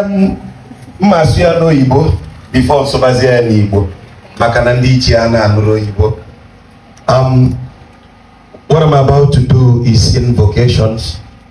m ma-asị ya n'oyibo before m sụbazie ya n'igbo maka na ndị ichie ana-anụrọ oyibo um, what I'm about to do is invocations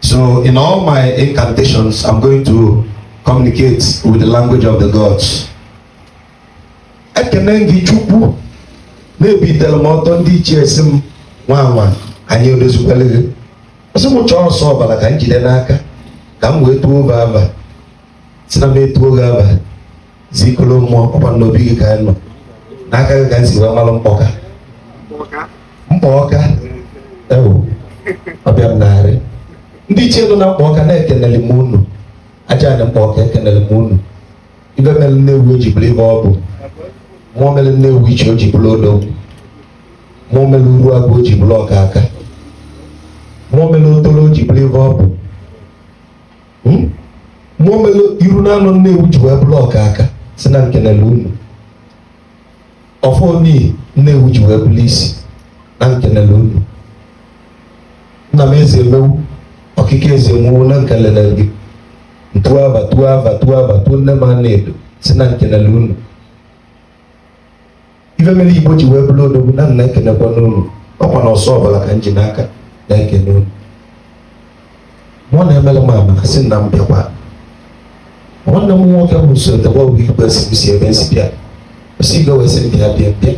So in all my incantations, I'm going to communicate with the language of the gods. Ekene m gị Chukwu na-ebitere m ọtọ ndị ichie si m nwa nwa anyị edozikwere gị ọsị m chọọ ọsọ ọbara ka m jide n'aka ka m wee tuo gị afa si na m etuo gị afa ikolo mmụọ ọkwa n'obi gị ka anyị nọ n'aka gị ka m si wee malụ mkpọka mkpọka ewu ọbịa m narị ndị ichie nọ na mkpọka na ekenele m unu aja ana mkpọka ekenele m unu ife mere Nnewi o ji bụrụ ife ọ bụ mmụọ mere Nnewichi o ji bụrụ odo mmụọ mere Uruagụ o ji bụrụ ọka aka mmụọ mere Otolo o ji bụrụ ife ọ bụ mmụọ mere iru na anọ Nnewi ji wee bụrụ ọka aka si na nkenele unu ọfọ n'ihi Nnewi ji wee bụrụ isi na nkenele unu nna m Ezemewi ọkịka Ezemewi na nkenele gị m tuo afa tuo afa tuo afa tuo nne m Anaedo si na nkenele unu ife mere igbo ji wee bụrụ odogwu na nna ekenekwa m unu ọkwa na ọsọ ọbụla ka m ji n'aka na-ekene unu mụ na-emere m amaka sị na m bịakwa nwanne m nwoke bụ sotekwa bụ igwe si ebe nsi bịa osi igwe wee sị m bịa bịa bịa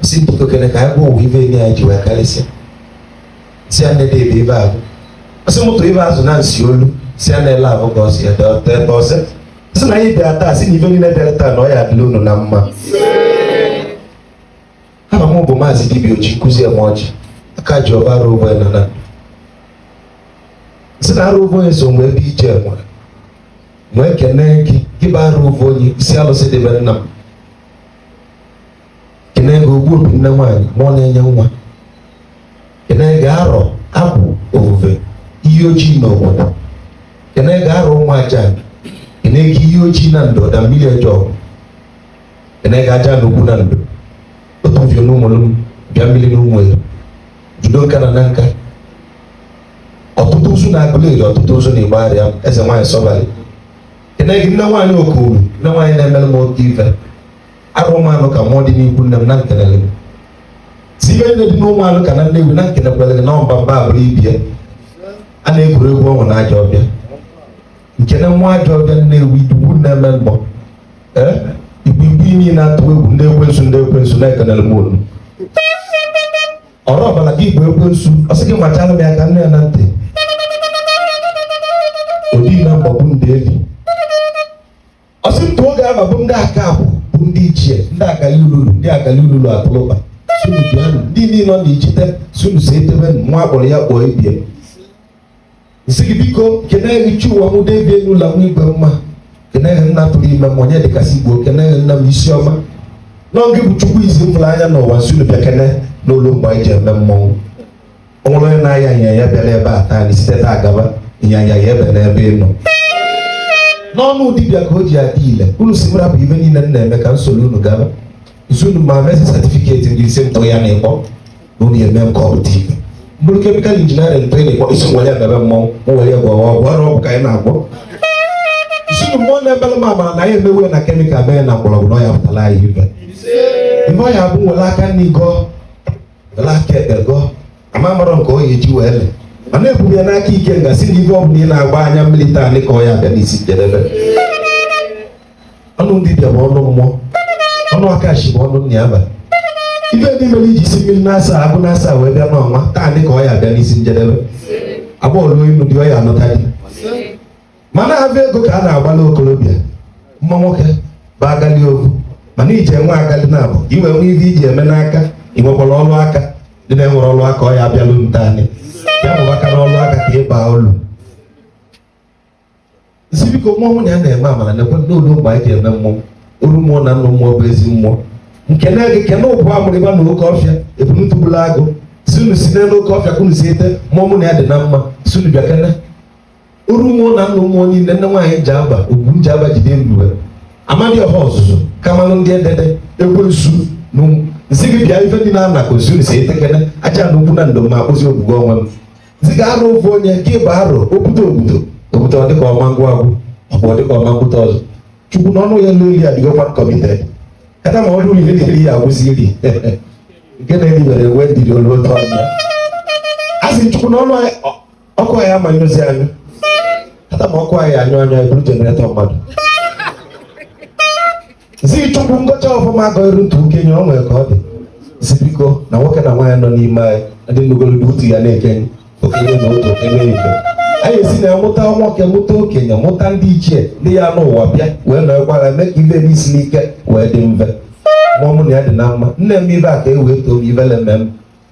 osi biko kene ka anyị gwa ụwa ife enyi anyị ji wee karịsịa si ya na-ede ebe ibe ahụ ọsị mụtụ ibe azụ na nsi olu si ya na-ele ahụ ka ọsị ya dọta ebe ọsị sị na anyị bịara taa si na ife niile bịara taa na ọ ya adịla unu na mma aha m bụ maazị dibia oji nkụzi eme ọjị aka ji ọba arụ ụgbọ na na sị na arụ ụgbọ onye so mgbe ebe ije enwe wee kene gị gị bụ arụ ụgbọ onye isi alụsị dị be nna m kene gị ogbu obi nne nwaanyị mmụọ na-enye nwa kene gị arọ abụ ofufe Iyi Ọjị na obodo kene gị arọ ụmụ aja kene gị Iyi Ọjị na ndụ ọda mmiri ọjọ kene gị aja ana ukwu na ndụ otu mfio na ụmụlụ m bịa mmiri na ụmụ ya judo nka na Nanka Otutunzu na Aguleri Otutunzu na Igbariam eze nwaanyị sọbalị kene gị nne nwaanyị okoro nne nwaanyị na-emere m oke ife arụmanụ ka mụọ dị n'ikwu nne m na nkenele m tinye nne dị n'ụmụanụka na nnewi na nkenekwere gị na ọmba mba abụrụ ibie a na-egwuri egwu ọnwụ na ajọ ọfịa nkene mmụọ ajọ ọfịa nnewi dugbu na-eme mgbọ ee igbigbi imi na-atụ egwu ndị ekwensu ndị ekwensu na ekenele m unu ọrụ ọbara gị igbo ekwensu ọ sị gị gbachara m ya ka nne ya na ntị odi na mgbagbu ndị eli ọsị ntụ oge ama bụ ndị aka abụ bụ ndị ichie ndị agali ululu ndị agali ululu atụlụba sị unu bịanụ ndị niile nọ n'ichite sị unu si etebe nwa akpọrọ ya kpọọ ebie nsị gị biko keneghị chi ụwa mụ debie n'ụlọ nwa igwe mma keneghị nna tụrụ ime m onye dịkasị igbo keneghị nna m isi ọma nwoke bụ chukwu isi m fụrụ anya n'ụwa sị unu bịa kene na o lu mgbe anyị ji eme mmọnwụ ọ nwere onye na-aya ịnyanya bịara ebe a taa anyị site taa gaba ịnyanya ya ebe n'ebe ị nọ n'ọnụ dibịa ka o ji adị ile unu si mara bụ ife niile m na-eme ka nsogbu unu gaba sị unu ma mesi satifiketi ndị ise ntọ ya na-ekpọ na unu eme m ka ọ bụ dibịa m gụrụ kemikal injiniarịn tụ na-ekpọ isi m were mebe mmọnwụ m were ya gwọwa ọgwụ ọ bụ ọgwụ ka anyị na-agwọ sị unu mmụọ na-ebere m amara na anyị emewe na kemikal mee na mgbọrọgwụ na ọ ya pụtara anyị ife ife ọ ya bụ m were aka nri gọọ aka ekpe gọọ ama marọ nke ọ ya eji wee lee ma na-eburu ya n'aka ike nga si na ife ọ bụla ị na-agba anya mmiri taanị ka ọ ya abịa n'isi njedebe ọnụ dibịa bụ ọnụ mmụọ ọnụ akashi bụ ọnụ nna ya ba ife ndị mere i ji si mmiri n'asaa agụ n'asaa wee bịa n'ụwa taanị ka ọ ya abịa n'isi njedebe agbọghọ ruo ịnụ di ọ ya anụta di mana ọ bụ ego ka a na-agbala okorobịa mma nwoke bụ agali ovu mana iji enwe agali na-abụ i wee nwe ife i ji eme n'aka ị nwekwara ọrụ aka ndị na-enwerọ ọrụ aka ọ ya abịalụ m taa anyị ya bụ aka n'ọrụ aka ka ịba ụlọ sị biko mmụọ mụ na ya na-eme amara nekwe na o lu mgbe anyị ji eme mmọnwụ oru mmụọ na nnụ mmụọ bụ ezi mmụọ nke na-ege kene ụbụ amụrịba na oke ọfịa ebunutubula agụ sị unu si n'elu oke ọfịa ka unu si ete mmụọ mụ na ya dị na mma sị unu bịa kene oru mmụọ na nnụ mmụọ niile nne nwaanyị ji aba ugwu ji aba jide ebube amadiọha ọzụzụ kamanụ ndị edede ekwensu na ụmụ nsị gị bịa ife dị n'ana ka ozuru si ete kene ajana ukwu na ndo ma akpụzi ogbugbo onwe m nsị ga arụ ofu onye gị bụ arụ obudo obudo obudo ọ dịka ọma ngwa agwụ ọ bụ ọ dịka ọma ngwụta ọzọ chukwu na ọnụ ya n'olu ya dịgokwa nkọmite kata ma ọ dụrụ ihe dịrị ya agwụzi iri nke na-eribere ewe ndiri olu otu ọnụ ya a sị chukwu na ọnụ anyị ọ- ọkụ anyị amanyụzi anyụ kata ma ọkụ anyị anyụ anyụ eburu jeneretọ mmadụ zi chukwu ngọcha ọfụma agọ iru ntụ okenye ọ nwere ka ọ dị si biko na nwoke na nwaanyị nọ n'ime anyị ndị nugolugbo otu ya na-ekenye okenye na otu okenye ife anyị esi na mụta nwoke mụta okenye mụta ndị ichie ndị ya n'ụwa bịa wee nọkwara mee ka ife na-esi ike wee dị mfe mmụọ mụ na ya dị na mma nne m ibe a ka e wee too m ivele mmemme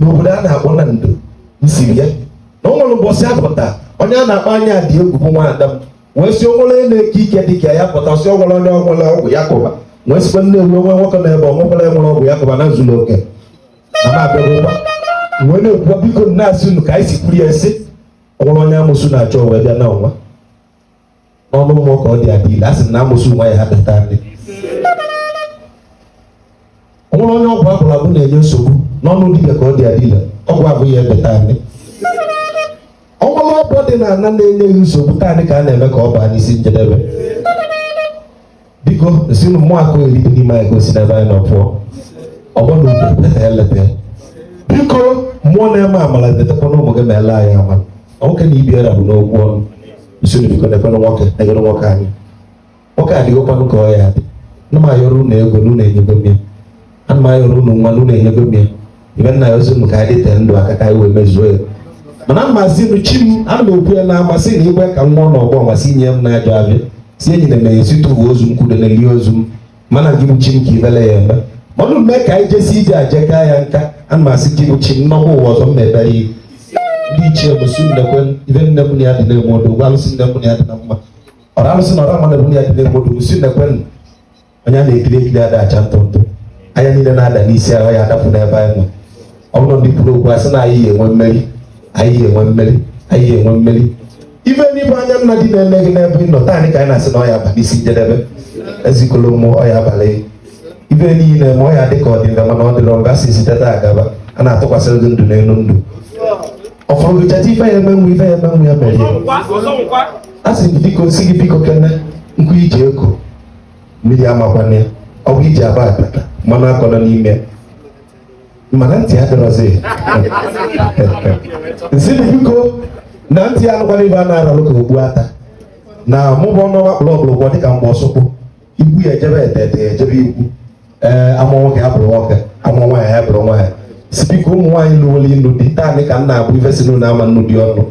n'obodo a na-akpọ na ndo nsiri ya na o nwere mbọsị a pụta onye a na-akpọ anya dị egwu bụ nwaada m wee sị o nwere onye na-eke ike dị ka ya pụta sị o nwere onye o nwere ọgwụ ya kụba wee sikwa nne ewu onwe nwoke na ebe ọnwekwara enwere ọgwụ ya kụba na zuru oke na m abịagokwa wee na-ekwuwa biko nna asị unu ka anyị si kwuru ya sị o nwere onye amosu na-achọ wee bịa na ọnwa n'ọnụ mmụọ ka ọ dị adị ile a sị na amosu nwa ya ebe taanị ọ bụrụ onye ọgwụ agwọrọ agwọ na-enye nsogbu n'ọnụ dibịa ka ọ dị adị ile ọgwụ ahụ ya ebe taanị ọ bụrụ ọgwụ dị na ana na-enye nsogbu taanị ka a na-eme ka ọ baa n'isi njedebe biko sị na mmụọ akụ eri dị n'ime anyị ka o si n'ebe anyị nọ pụọ ọgbọ na udo leta eleta biko mmụọ na-eme amala letakwa na ụmụ gị ma ele anyị amala nwoke na ibi era bụ n'okwu ọnụ usoro biko na-ekwere nwoke na-enyere nwoke anyị nwoke adịghịkwanụ ka ọ ya adị na m ayọrọ unu ego na unu enyego m ya ana m ayọrọ unu nwa na unu enyego m ya ibe nna ya ozi m ka anyị dịte ndụ aka ka anyị wee mezuo ya mana mmasị nụ chi m ana m ekwu ya na amasị na igwe ka nwa na ọgbọ masị nye m na-ajụ abịa si enyi na emeghe site uwe ozu m kwudo na eli ozu m mana gị bụ chi m ka ebele ya eme ọnụ mee ka anyị jesi ije aje gaa ya nka ana m asị gị bụ chi m m nọkwa ụwa ọzọ m na-ebere ihu ndị ichie bụ sị unu ekwe ibe niine m na ya dị na-enwe odogwu alụsị niine m na ya dị na mma ọra alụsị na ọra mmadụ m na ya dị na-enwe odogwu sị unu ekwena onye a na-ekiri ekiri ada acha ntụ ntụ anya niile na-ada n'isi ahụ ya adapụ n'ebe anyị nọ ọ bụrụ ndị kwuru okwu asị na anyị yi enwe mmeri anyị yi enwe mmeri anyị yi enwe mmeri ife ndị bụ anya nna dị na-eme gị n'ebe ị nọ taanị ka anyị na-asị na ọ ya aba n'isi njedebe ezikọla ụmụ ọ ya abalị ife niile ma ọ ya adị ka ọ dị mfe mana ọ dịrọ mfe a sị site taa gaba a na-atụkwasịrị gị ndụ n'elu ndụ ọ fọrọ gị cheta ife ya emenwu ife ya emenwu ya mere a sị gị biko sị gị biko kene nkụ iji eko mmiri amakwana ya ọ bụ iji aba akpata mmanụ akọna n'ime ya. mana ntị ya dịrọzi nsị na biko na ntị ya anụkwana ibe a na-aralụ ka ogbu ata na mụbụ ọnụ ọwa kpụrụ ọkpụrụgwọ dịka mgbe ọsụkwụ igwu ya ejebe etete ya ejebe igwu ee a mụọ nwoke ya bụrụ nwoke a mụọ nwaanyị ya bụrụ nwaanyị sị biko ụmụ nwaanyị luolu ịnụ di taanị ka m na-abụ ife sị na unu ama anụ di ọnụ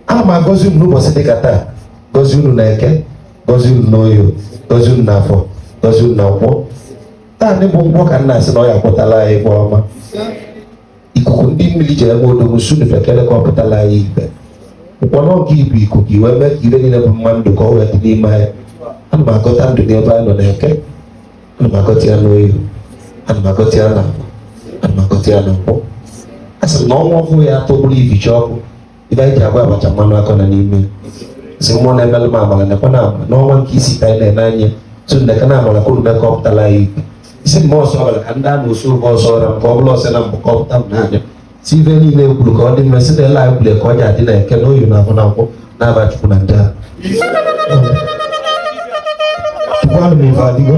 ana m agọzi unu n'ụbọchị dịka taa gọzie unu na eke gọzie unu na oye gọzie unu na afọ gọzie unu na nkwọ taanị bụ nkwọ ka m na-asị na ọ ya akpọtala anyị ife ọma ikuku ndị mmiri ji eme odogwu sunu bekele ka ọ pụtala anyị ibe ụkpọ n'oge ibu ikuku iwe mee ka ire niile bụ mma ndụ ka ọ wee dị n'ime anyị ana m agọta ndụ n'ebe anyị nọ n'eke ana m agọta ya n'oye ana m agọta ya na afọ ana m agọta ya na nkwọ a sị na ọnwa ọhụụ ya atọgburu ibicha ọkụ ibe anyị ji agba abacha mmanụ akọ na n'ime si mmụọ na-emelụ m amala nekwa na ama n'ọnwa nke isi ka anyị na-eme anya tu nneka na amala kwuru mee ka ọ pụtala anyị ikpe isi mma ọsọ ọbara ka ndị a na-osu ụgwọ ọsọ ọra nke ọ bụla ọsọ na mbụ ka ọ pụta m n'anya sị ife niile e kwuru ka ọ dị mma si na ele anyị kwuru ka ọ ji adị na eke na oye na afọ na nkwọ n'afa chukwu na ndị ahụ Tukwanu m ife adịgo